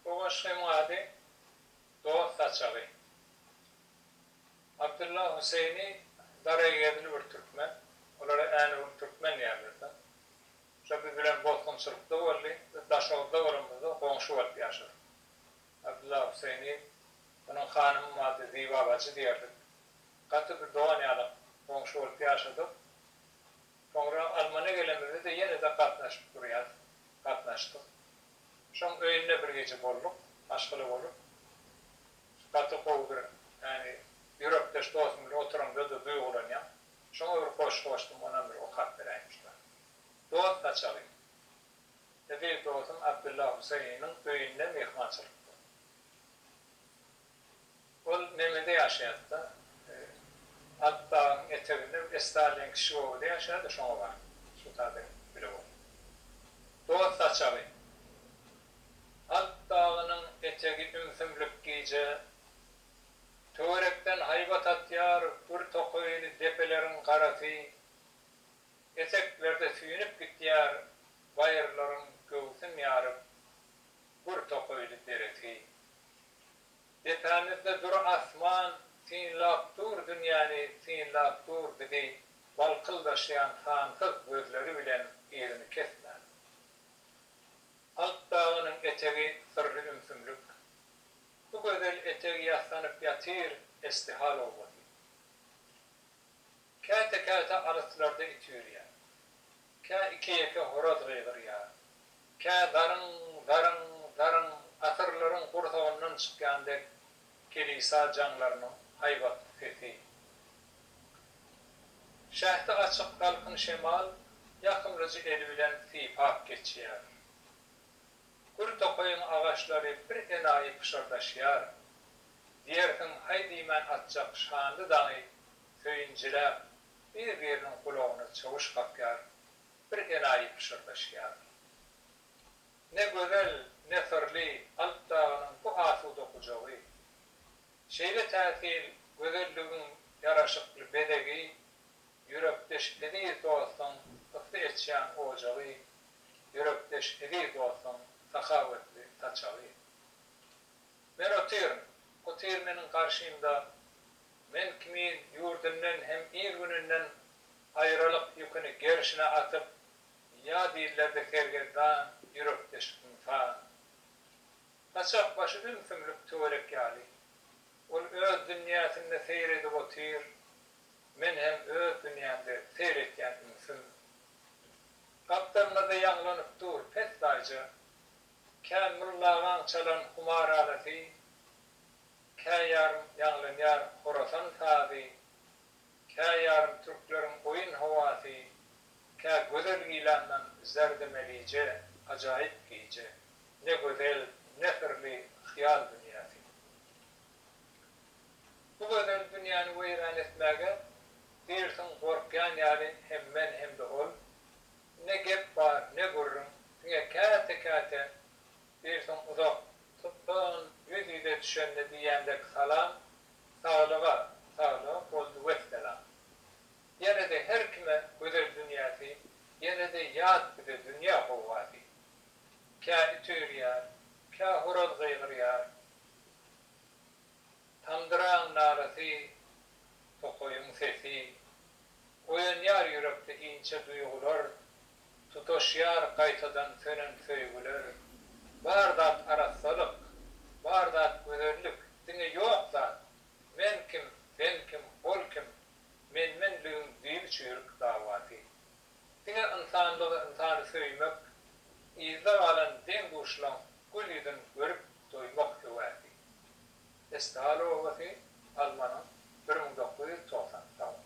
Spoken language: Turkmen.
Bu goşgyň ady Dost saçagy. Abdylla Hüseýni daraýgedil bir türkmen. Olara Äneurt türkmen diýerler-de. Şo biz bilen bosgunçylykda boldy. Biz Daşoguzda bolanymyzda goňşy bolup ýaşadyk. Abdylla Hüseýni onuň hanymyň ady Ziba bajy diýerdik. Gaty bir dogan ýaly goňşy bolup ýaşadyk. Soňra Almana gelemizde-de ýene-de gatnaşyp durýas. Gatnaşdyk. Şoň öýünde bir gije bolduk, maşgala bolup. Gaty gowy bir, ýagny ýürekdeş dosum bilen oturanyňda-da duýgulanýaň. Şoňa bir goşgy goşdum, onam bir okap beräýiň şular. Dost saçagy. Eziz dosum Abdylla Husaýynyň öýünde myhmançylykda. Ol Memede ýaşaýardy-da. Alpdagyň eteginde bir Esrar diýen kişi obada ýaşaýardy, şoňa baryp, Suta bilen bile bolup. Dost saçagy. Alp dagynyň etegi ümsümlik gije. Töwerekden haýbat atýar, gür tokaýly depeleriň garasy. Eteklerde süýnüp gitýär baýyrlaryň göwsün ýaryp, gür tokaýly deresi. Depämizde dur asman, Synlap dur dünýäni, synlap dur bizi, Balkyldaşýan sansyz gözleri bilen Yzyny kesmän. Alp dagynyň etegi syrly ümsümlik. Bu gözel eteg ýassanyp ýatyr Eşdihal obasy. Käte-käte alyslarda it üýrýär. Kä iki-ýeke horaz gygyrýar. Kä zaryň, zaryň, zaryň, asyrlaryň gursagyndan çykýan dek kilisa jaňlarynyň haýbatly sesi. Şähdi açyk salkyn şemal ýakymlyja eli bilen sypap geçýär. Gür tokaýyň agaçlary birenaýy pyşyrdaşýar. Diýersiň haý diýmän atjak şanly daňy söýünjiräp, Bir-biriniň gulagyna çawuş kakýar, bir elaýy pyşyrdaşýarlar. Ne gözel, ne syrly Alp dagynyň bu asuda gujagy, şeýle täsin gözelligiň ýaraşykly bezegi, ýürekdeş eziz dostuň ysy eçýän ojagy, ýürekdeş eziz dostuň sahawatly saçagy. Men otyryn, otyr meniň garşymda Men kimin ýurdundan hem il-gününden aýralyk ýüküni gerşine atyp, ýa diýillerdi sergezdan, ýürekdeş ynsan. Saçak başy ümsümlik töwerek ýaly. Ol öz dünýäsinde seýr edip otyr, men hem öz dünýämde seýr etýän ümsüm. Gapdalymyzda ýaňlanyp dur pessaýja, kän mullagaň çalan humar alasy. Kä ýarym ýaňlanýar horasan sazy, Kä ýarym türkleriň oýun howasy, Kä gözel gilandan zerdi melije, Ajaýyp gije, ne gözel, ne syrly hyýal dünýäsi. Bu gözel dünýäni weýran etmäge, Diýrsiň gorkýan ýaly hem men hem-de ol, Ne gep bar, ne gürrüň, diňe käte-käte Birsin uzak tutdun ýüz ýüze düşende diýýän dek salam saglyga saglyga boldy wessalam. Ýenede her kime gözel dünýäsi ýenede ýat bize dünýä howwasy. Kä it üýrýär, kä horaz gygyrýar, tamdyraň nalasy, tokaýyň sesi, oýanýar ýürekde inçe duýgular, Tutaşýar gaýtadan sönen söýgüler. Bar zat arassalyk, bar zat gözellik, diňe ýok zat, Men kim, sen kim, ol kim, men-menligiň düýn çüýrük dawasy. Diňe ynsanlygy, ynsany söýmek, yzda galan deň-duşlaň gül ýüzün görüp doýmak höwäsi. Estal obasy, Almanyň bir müň dokuz ýüz togsan, Tawus.